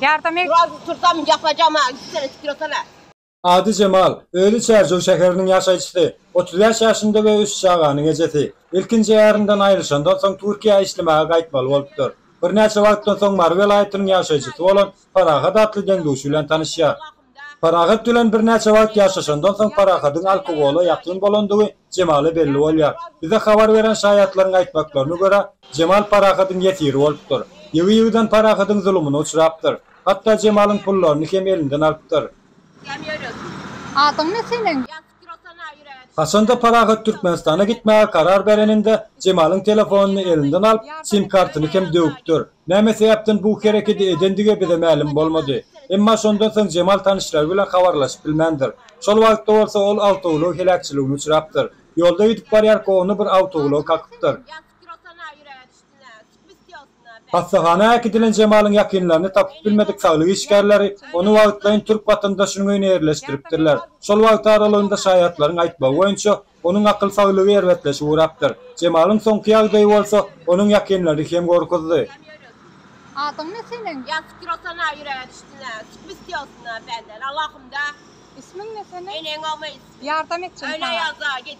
Yardım et. Biraz tursam yapacağım ha. Üç tane sikir atana. Ady Jemal, özi Çärjew şäheriniň ýaşaýjysy, otuz bäş ýaşynda we üç çaganyň ejesi. Ilkinji ärinden aýrylyşandan soň Türkiýä işlemäge gaýtmaly bolupdyr. Birnäçe wagtdan soň Mary welaýatynyň ýaşaýjysy bolan Parahat atly deň-duşy bilen tanyşýar. Parahat bilen birnäçe wagt ýaşaşandan soň Parahadyň alkogola ýakyn bolandygy Jemala belli bolýar. Bize habar beren şaýatlaryň aýtmaklaryna görä, Jemal Parahadyň ýesiri bolupdyr. Ýygy-ýygydan Parahadyň zulumyna uçrapdyr. Hatda Jemalyň pullaryny hem elinden alypdyr. Adyň ne seniň? Haçanda Parahat Türkmenistana gitmäge karar bereninde, Jemalyň telefonyny elinden alyp, sim-kartyny hem döwüpdir. Näme sebäpden bu herekedi edendigi bize mälim bolmady. Emma şondan soň Jemal tanyşlary bilen habarlaşyp bilmändir. Şol wagtda bolsa ol awtoulag heläkçiligine uçrapdyr. Ýolda gidip barýarka ony bir awtoulag kakypdyr. Hassahana äkidilen Jemalyň ýakynlaryny tapyp bilmedik saglyk işgärleri ony wagtlaýyn türk watandaşynyň öýüne ýerleşdiripdirler. Şol wagt aralygynda şaýatlaryň aýtmagy boýunça, onuň akyl saglygy erbetleşip ugrapdyr. Jemalyň soňky ýagdaýy bolsa onuň ýakynlaryny hem gorkuzdy. Adyň ne seniň? Ýa Kitrosana ýüräge düşdüne, Kitbis ýolsuna benden Allahymda. Ismiň ne seniň? Eneň ogly. Ýardam etjin saňa. Öýle ýazda git.